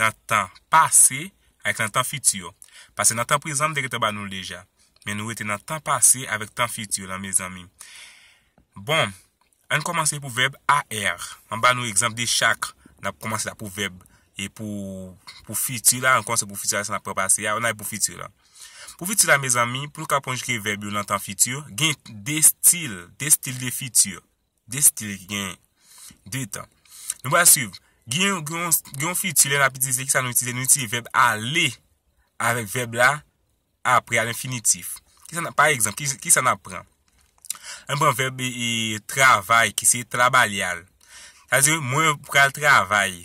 nan tan pase ak nan tan fiti, pase nan tan prezan m te gentan ba nou l deja, men nou rete nan tan pase avèk tan fiti lan mezanmi bon ann kòmanse pou vèb AR m ba nou egzanp de chak nap kòmanse la pou vèb e pou pou fiti la ann kòmanse pou fiti la san nap pran pase a ann al pou fiti la pou fiti la mezanmi pou nou ka konjige vèb yo nan tan fiti gen 2 stil 2 stil de fiti Destiny ki gen 2 tan. Nou pral swiv. Gen yon fiti lè n ap itilize ki sa nou itilize? Nou itilize vèb ale avèk vèb la apre a lenfinitif. Pa egzanp, ki sa n ap pran? An n pran vèb travay ki se trabalyal. Sa di mwen pral travay.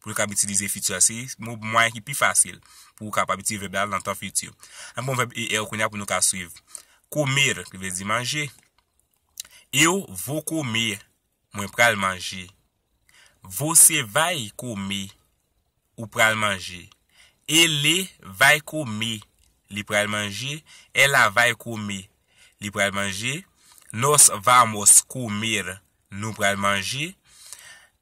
Pou yo kab itilize fiti a, se mwayen ki pi fasil pou ou kapab itilize vèb la nan tan fiti. Ann pran vèb er kounye a pou nou ka suiv. Comer, ki vle di manje. Eu vou comer, mwen pral manje. Você vai comer, ou pral manje. Ele vai comer, li pral manje. Ela vai comer, li pral manje. Nós vamos comer, nou pral manje.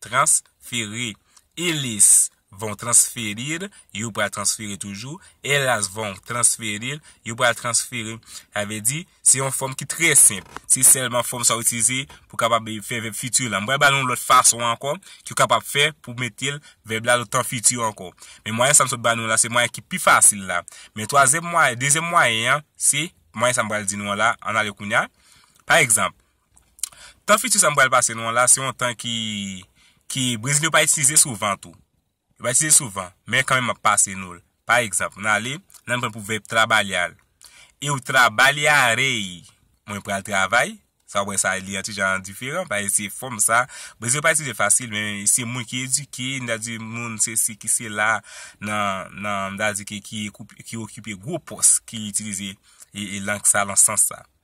Transfere. Eles vão transferir, yo pral transfere toujou. Elas vão transferir, yo pral transfere. Sa vle di, se yon fòm ki trè senp. Se sèlman fòm sa ou itilize pou kapab fè vèb fiti la. M pral ba nou yon lòt fason ankò ke ou kapab fè pou mete l, vèb la nan tan fiti ankò. Men mwayen sa m sot ba nou la, se mwayen ki pi fasil la. Men twazyèm mwayen, dezyèm mwayen an, se mwayen sa m pral di nou an la, ann ale kounya. Pa egzanp, Tan fiti sa m pral pase nou an la, se yon tan ki, ki Brezilyen yo pa itilize souvan tou. Yo pa itilize souvan, men kanmenm m ap pase nou l. Pa egzanp, nan ale, nan pran pou vèb trabalhar. Eu trabalharei, mwen pral travay. Sa w wè sa li yon ti jan diferan, paske se fòm sa, Brezilyen yo pa itilize fasil, men se moun ki edike, m ta di moun sesi ki sela nan, nan, m ta di ki, ki okipe gwo pòs ki itilize lang sa lan sans sa.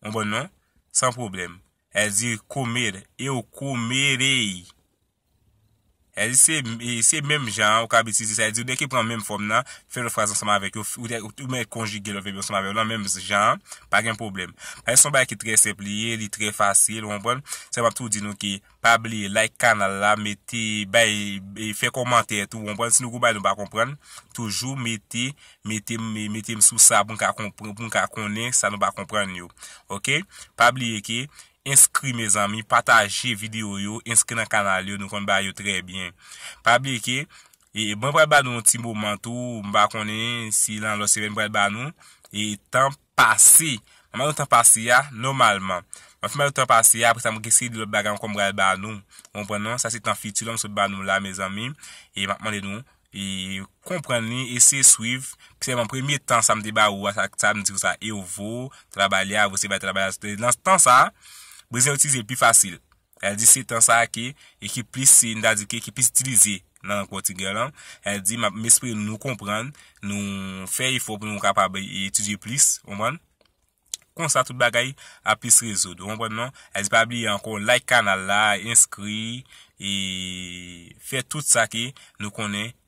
Ou konprann non? San pwoblèm. Èl di comer, eu comerei. Èl di se, se menm jan an ou kab itilize sa. Èl di ou dèke pran menm fòm nan, fè lòt fraz ansanm avèk yo, ou mèt konjige lòt vèb yo ansanm avèk yo lan menm jan an, pa gen pwoblèm. Paske se yon bagay ki trè senp li ye, li trè fasil, ou konprann? Sèlman pou di nou ke. Pa bliye like kanal la mete bay fè kòmantè tou konprann si nou gou bagay nou pa konprann toujou mete metem metem sou sa poun ka konpran poun ka konnen sa nou pa konprann yo ok pa bliye ke enskri mezanmi pataje video yo enskri nan kanal yo nou konn bagay yo trè byen pa bliye ke e mwen pral ba nou yon ti moman tou mpa konnen si nan lòt semèn pral ba nou e tanp. pase. Mwen mande w tan pase a, nòmalman. Mwen fin mande w tan pase a, apre sa mwen gen seri de lòt bagay ankò m pral ba nou. Ou konprann non? Sa se tan fiti la m sot ba nou la mezanmi. E m ap mande nou konprann li, eseye swiv. Sèlman premye tan sa m te ba ou a, sa sa m di ou sa, eu vou trabalhar, você vai trabalhar. Nan tan sa a, Brezilyen yo itilize l pi fasil. El di se tan sa a ke ekip plis se n ta di ke ki plis itilize nan lang pòtigè lan. El di map m espere nou konprann, nou fè efò pou nou kapab etidye plis, ou konprann? Konsa tout bagay ap plis rezoud, ou konprann non? El di pa bliye ankò like kanal la, enskri e fè tout sa ke nou konnen